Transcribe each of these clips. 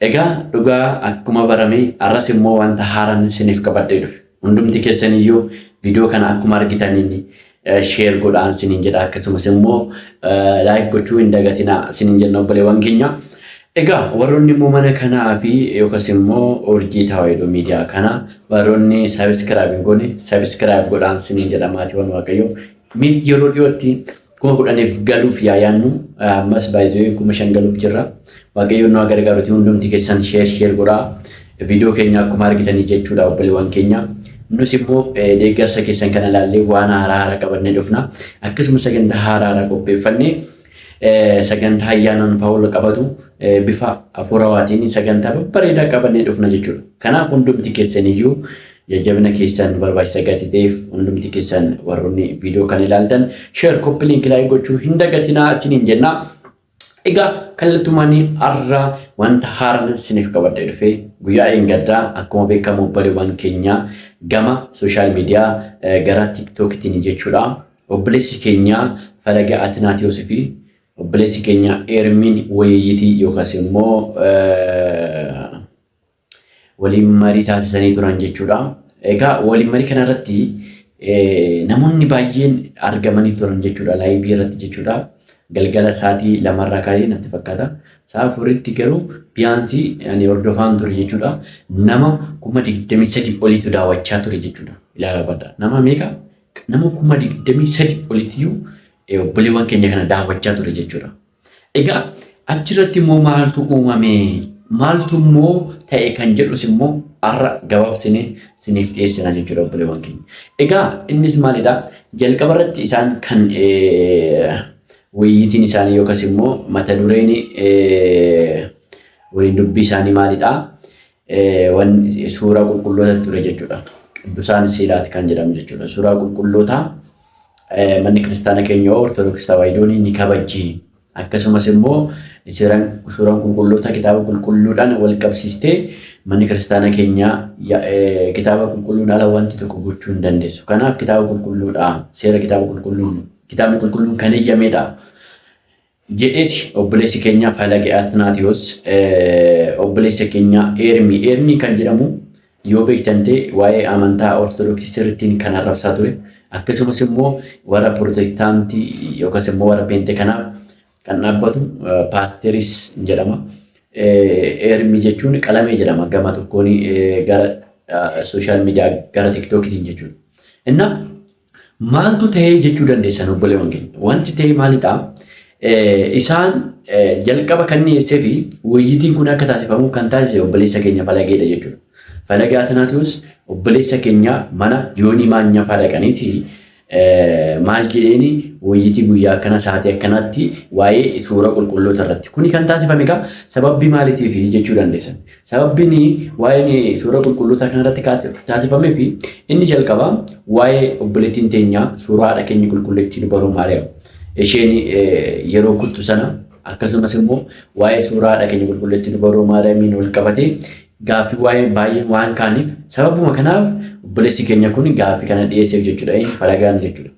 Egaa dhugaa akkuma barame arras immoo wanta haaraan isiniif qabadhee dhufe. Hundumti keessan iyyuu viidiyoo kana akkuma argitaniin sheer godhaan sinin jedha akkasumas immoo laayik gochuu hin dagatinaa sinin jenna obboleewwan keenya. Egaa warroonni immoo mana kanaa fi yookas immoo urjii tawaayidoo miidiyaa kana warroonni sabiskiraayib hin goone sabiskiraayib godhaan sinin jedha maatiiwwan waaqayyoo. Mee yeroo dhiyootti Kuma kudhaniif galuuf yaa yaannu ammas baay'ee kuma shan galuuf jirra. Waaqayyoon nu gargaaruti hundumti keessan sheer sheer godhaa. Viidiyoo keenya akkuma argitanii jechuudha obboleewwan keenya. Nus immoo deeggarsa keessan kana ilaallee waan haaraa haaraa qabannee dhufna. Akkasumas sagantaa haaraa haaraa qopheeffannee sagantaa ayyaanaan fa'aa wal qabatu bifa hafuurawaatiin sagantaa babbareedaa qabannee dhufna jechuudha. Kanaaf hundumti keessaniyyuu Jajjabina keessan nu barbaachisa gatii ta'eef hundumti keessan warroonni viidiyoo kana ilaaltan sheer koppi liinki laayik gochuu hin dagatinaa isiniin jenna. Egaa kallattumaan har'a wanta haaraan isiniif qabadhee dhufee guyyaa eeggaddaa akkuma beekamu obboleewwan keenya gama sooshaal miidiyaa gara tiiktookitiin jechuudha. Obboleessi keenya falaga Atinaatiyoosi fi obboleessi keenya Eermiin Wayiiyitii yookaas immoo waliin marii taasisanii turan jechuudha. Egaa waliin marii kana irratti namoonni baay'een argamanii turan jechuudha laayivii irratti jechuudha. Galgala sa'aatii lamarraa kaa'ee natti fakkaata. Sa'a afuritti garuu biyaansii ani hordofaan ture jechuudha. Nama kuma digdamii sadii oliitu daawwachaa ture jechuudha. Ilaalaa badda. Nama meeqa? Nama kuma digdamii sadii oliitu obboleewwan keenya kana daawwachaa ture jechuudha. Egaa achirratti immoo maaltu uumame? Maaltu immoo ta'e kan jedhus immoo har'a gabaabsine siniif dhiyeessina jechuudha obboleewwan keenya. Egaa innis maalidha? Jalqaba irratti isaan kan wayyiitiin isaanii yookas immoo mata dureen waliin dubbii isaanii maalidha? wan suuraa qulqulloota ture jechuudha. Qiddusaan siilaati kan jedhamu jechuudha. Suuraa qulqullootaa manni kiristaana keenya Ortodoksii Tawaahidoon ni kabajji. Akkasumas immoo suuraan qulqulloota kitaaba qulqulluudhaan wal qabsiistee manni kiristaana keenya kitaaba qulqulluun ala wanti tokko gochuu hin dandeessu. Kanaaf kitaaba qulqulluudha. Seera kitaaba qulqulluun kitaabni qulqulluun kan eeyyameedha. jedheti obboleessi keenya Falage Atnaatiyos obboleessa keenya Eermii Eermii kan jedhamu yoo beektan ta'e waa'ee amantaa Ortodoksii sirrittiin kan arrabsaa ture akkasumas immoo warra Pirotestaantii yookaas immoo warra Peente kanaaf kan dhaabbatu paasteris jedhama. Eermii jechuun qalamee jedhama gama tokkoon gara sooshaal miidiyaa gara tiktookitiin jechuudha. Inna Maaltu ta'ee jechuu dandeessan obboleewwan keenya? Wanti ta'e maalidha? Isaan jalqaba kan dhiyeessee fi wayyitiin kun akka taasifamu kan taasise obboleessa keenya falageedha jechuudha. Falagee Atanaatiyoos obboleessa keenya mana yoonii maanyaa fa'aa dhaqaniiti maal jedheeni wayyitii guyyaa akkana sa'aatii akkanaatti waa'ee suura qulqulloota irratti. Kuni kan taasifame egaa sababii maaliitiif jechuu dandeessan. Sababbiin waa'een suuraa qulqullootaa kanarratti taasifamee fi inni jalqaba waa'ee obboleettiin teenyaa suuraa haadha keenya qulqulleettii dubaroo Maariyaam isheen yeroo kuttu sana akkasumas immoo waa'ee suuraa haadha keenya qulqulleettii dubaroo Maariyaamiin wal qabatee gaaffii waa'ee baay'ee waan kaaniif sababuma kanaaf obboleessi keenya kun gaaffii kana dhiyeesseef jechuudha. Falagaan jechuudha.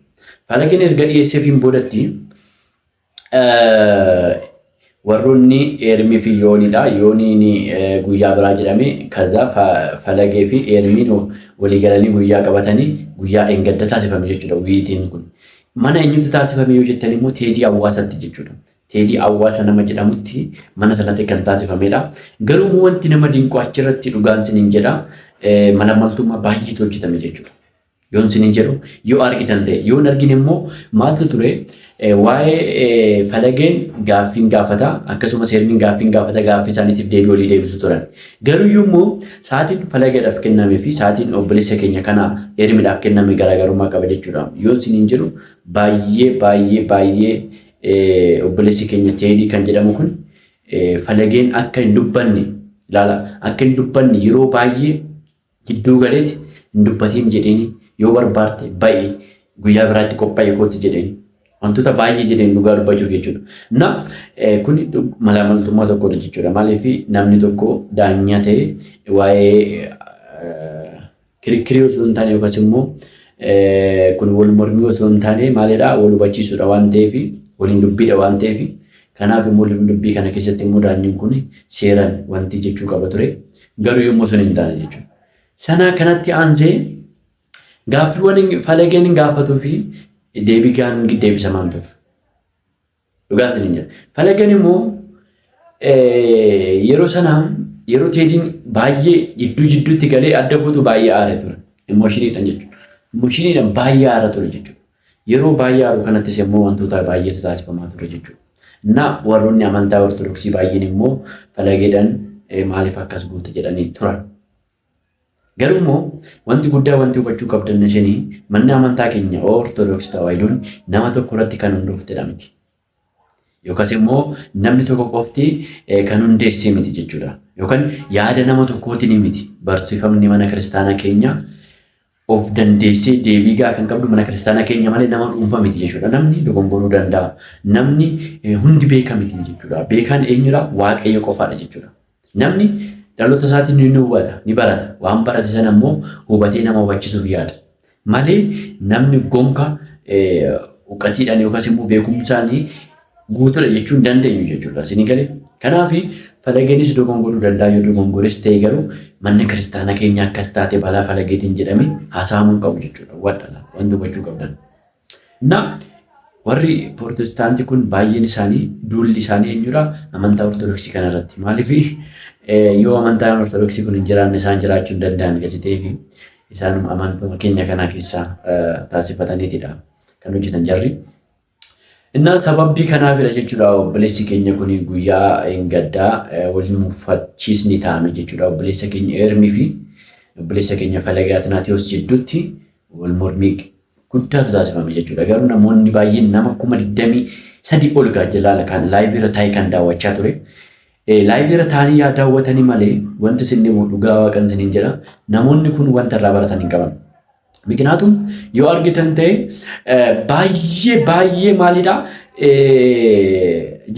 Falageen erga dhiyeesseefiin boodatti warroonni eermii fi yooniidha. Yooniin guyyaa biraa jedhame kaza falagee fi eermiin waliigalanii guyyaa qabatanii guyyaa engadda taasifame jechuudha wiitiin kun. Mana eenyutti taasifame yoo jettan immoo teedii hawaasatti jechuudha. Teedii hawaasa nama jedhamutti mana sanatti kan taasifamedha. Garuu wanti nama dinqu achirratti dhugaan sinin jedha malamaltummaa baay'eetu hojjetame jechuudha. Yoon sinin jedhu yoo argitan ta'e yoon argine immoo maaltu ture waa'ee falageen gaaffiin gaafata akkasumas hermiin gaaffiin gaafata gaaffii isaaniitiif deebii olii deebisu turan. Garuu immoo sa'aatiin falageedhaaf kenname fi sa'aatiin obboleessa keenya kana hermiidhaaf kenname garaagarummaa qaba jechuudha. Yoon sinin jedhu baay'ee baay'ee baay'ee obboleessi keenya teedii kan jedhamu kun falageen akka hin dubbanne ilaala akka hin dubbanne yeroo baay'ee Jidduu galeeti hin dubbatiin jedheeni yoo barbaarte ba'i guyyaa biraa itti qophaa'ii kooti jedheeni. Wantoota baay'ee jedheen dhugaa dubbachuuf jechuudha. Na kun malaamaltummaa tokkodha jechuudha. Maaliif namni tokko daanyaa ta'e waa'ee kirikkirii osoo hin taane yookaas immoo kun wal mormii osoo hin taane maalidha wal hubachiisuudha waan ta'eef waliin dubbiidha waan ta'eef Kanaaf immoo lubni dubbii kana keessatti immoo daanyin kun seeran wanti jechuu qaba ture. Garuu yommuu sun hin taane jechuudha. Sana kanatti aansee gaaffiiwwan falageen gaafatuu fi deebii gaan deebisamaan ture. Dhugaa isin hin jira. Falageen immoo yeroo sana yeroo teediin baay'ee jidduu jidduutti galee adda guutuu baay'ee aare ture. Immoshiniidhaan jechuudha. Immoshiniidhaan baay'ee aara ture jechuudha. Yeroo baay'aaru kanattis immoo wantootaa baay'eetu taasifamaa ture jechuudha. Na warroonni amantaa Ortodoksii baay'een immoo falageedhaan maaliif akkas goote jedhanii turan. Garuu immoo wanti guddaa wanti hubachuu qabdan isin manni amantaa keenya Ortodoksii Tawaayidoon nama tokko irratti kan hundooftedha miti. Yookas immoo namni tokko qofti kan hundeessee miti jechuudha. Yookaan yaada nama tokkootiin miti. Barsiifamni mana kiristaanaa keenya of dandeessee deebii gahaa kan qabdu mana kiristaanaa keenya malee nama dhuunfaa miti jechuudha. Namni dogongoruu danda'a. Namni hundi beeka miti jechuudha. Beekaan eenyudha? Waaqayyo qofaadha jechuudha. Namni dhaloota isaatiin ni hubata, ni barata. Waan barate sana immoo hubatee nama hubachisuuf yaala. Malee namni gonka uqatiidhaan yookaas immoo beekumsaan guutuudha jechuun dandeenyu jechuudha. Isin galee kanaaf falageenis dogongoruu danda'a yoo dogongores ta'e garuu manni kiristaana keenya akkas taate balaa falageetiin jedhame haasa'amuu qabu jechuudha. Wadhala wanti hubachuu qabdan. Innaa warri Prootestaantii kun baay'een isaanii duulli isaanii eenyudha? Amantaa Ortodoksii kana irratti. Maaliif yoo amantaan Ortodoksii kun hin jiraanne isaan jiraachuu hin danda'an gadi ta'eefi isaan amantaa keenya kanaa keessaa taasifataniitidha kan hojjetan jarri. Innaa sababbii kanaafidha jechuudha obboleessi keenya kun guyyaa hin gaddaa waliin mufachiisni taa'ame jechuudha obboleessa keenya Eermii fi obboleessa keenya Falagaa Tinaatiyoos jidduutti wal mormii guddaatu taasifame jechuudha. Garuu namoonni baay'een nama kuma 23 ol gaajjalaala kan laayivii irra taa'ee kan daawwachaa ture. Laayivii irra taa'anii yaa daawwatanii malee wanti isin dhibu dhugaa waaqan isiniin jedha. Namoonni kun wanta irraa baratan hin qaban. Mikinaatuun yoo argitan ta'e baay'ee baay'ee maalidha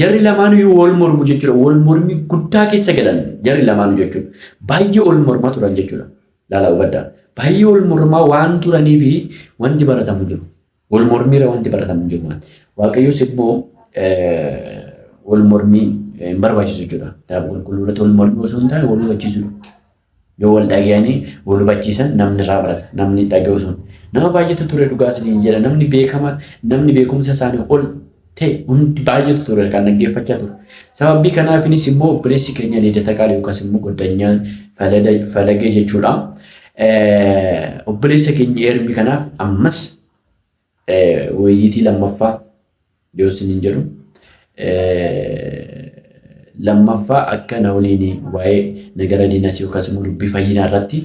jarri lamaanuu wal mormu jechuudha. Wal mormii guddaa keessa galan jarri lamaanuu jechuudha. Baay'ee wal mormaa turan jechuudha. Laalaa hubadhaa. Baay'ee wal mormaa waan turanii fi wanti baratamu jiru. Wal mormiirra wanti baratamu jiru waan. Waaqayyos immoo wal mormii hin barbaachisu jechuudha. Kitaaba qulqulluu irratti wal mormii osoo hin taane wal hubachiisudha. Yoo wal dhaga'anii wal hubachiisan namni irraa barata. Namni dhaga'u sun. Nama baay'eetu ture dhugaa isiniin jedha. Namni beekama namni beekumsa isaanii ol ta'e hundi baay'eetu ture kan dhaggeeffachaa ture. Sababii kanaafinis immoo obboleessi keenya Liidata Qaalii yookaas immoo Goddanyaan Falagee jechuudha. Obboleessa keenya Eermii kanaaf ammas wayyiitii lammaffaa yoo isin hin jedhu lammaffaa akka na waliin waa'ee nagara diinaas yookaas immoo dubbii fayyinaa irratti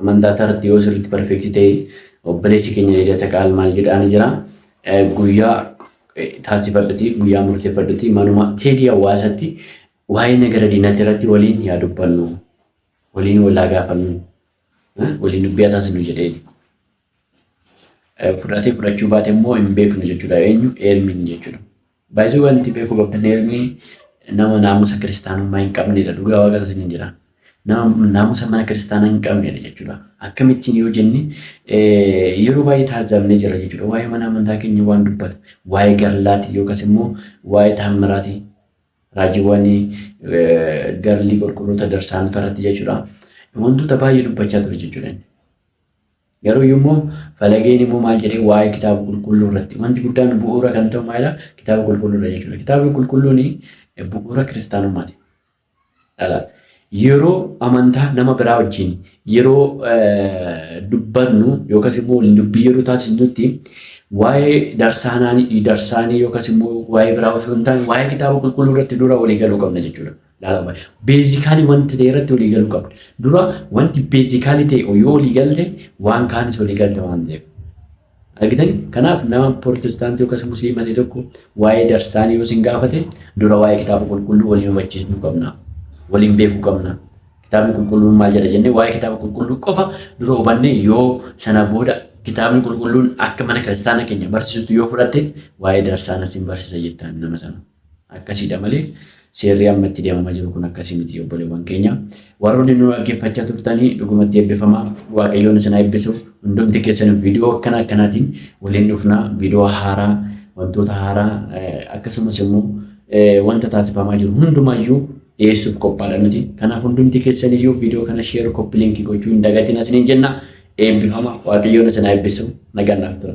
Amantaa isaarratti yoo sirriitti barfeeksi ta'e obboleessi keenya Lidata Qaal maal jedhaani jira guyyaa taasifadhati guyyaa murteeffadhati manuma teedii hawaasatti waa'ee nagara diinati irratti waliin yaa dubbannu waliin walaa gaafannu waliin dubbii haa taasisnu jedheen. Fudhatee fudhachuu baate immoo hin beeknu jechuudha eenyu eelmiin jechuudha. By the way wanti beekuu qabdan Ermii nama naamusa kiristaanummaa hin qabnedha dhugaa waaqan isin hin jira. Nama naamusa mana kiristaanaa hin qabnedha jechuudha. Akkamittiin yoo jenne yeroo baay'ee taasifamnee jira jechuudha. Waa'ee mana amantaa keenya waan dubbatu waa'ee garlaatii yookaas immoo waa'ee taammiraatii raajiiwwan garlii qulqulloota darsaanota irratti jechuudha. Wantoota baay'ee dubbachaa ture jechuudha. Garuu iyyuu immoo falageen immoo maal jedhee waa'ee kitaaba qulqulluu irratti wanti guddaan bu'uura kan ta'u maalidha? Kitaaba qulqulluudha jechuudha. Kitaabni qulqulluun bu'uura kiristaanummaati. Yeroo amantaa nama biraa wajjin yeroo dubbannu yookas immoo waliin dubbii yeroo taasisnutti waa'ee darsaanaanii darsaanii yookas immoo waa'ee biraa osoo hin taane waa'ee kitaaba qulqulluu irratti dura walii galuu qabna jechuudha. Laalama. Beezikaalii wanti ta'e irratti walii galuu qabda. Dura wanti beezikaalii ta'e yoo walii galte waan kaanis walii galta waan ta'eef. Argitani? Kanaaf nama Pirootestaantii yookaas Musliima ta'e tokko waa'ee darsaanii yoo isin gaafate dura waa'ee kitaaba qulqulluu waliin hubachiisuu qabna. Waliin beekuu qabna. Kitaabni qulqulluun maal jedha jennee waa'ee kitaaba qulqulluu qofa dura hubannee yoo sana booda kitaabni qulqulluun akka mana kiristaana keenya barsiisutti yoo fudhatte waa'ee darsaana isin barsiisa jettaan nama sana. Akkasiidha malee seerri amma itti deemamaa jiru kun akkasii miti obboleewwan keenya. Warroonni nu dhaggeeffachaa turtanii dhugumatti eebbifamaa waaqayyoon isin eebbisu hundumti keessan viidiyoo akkana akkanaatiin waliin dhufnaa viidiyoo haaraa wantoota haaraa akkasumas immoo wanta taasifamaa jiru hundumaayyuu dhiyeessuuf qophaadha nuti. Kanaaf hundumti keessan iyyuu viidiyoo kana sheer koppi liinkii gochuu hin dagatiin isiniin jenna eebbifama waaqayyoon isin eebbisu nagaan naaf tura.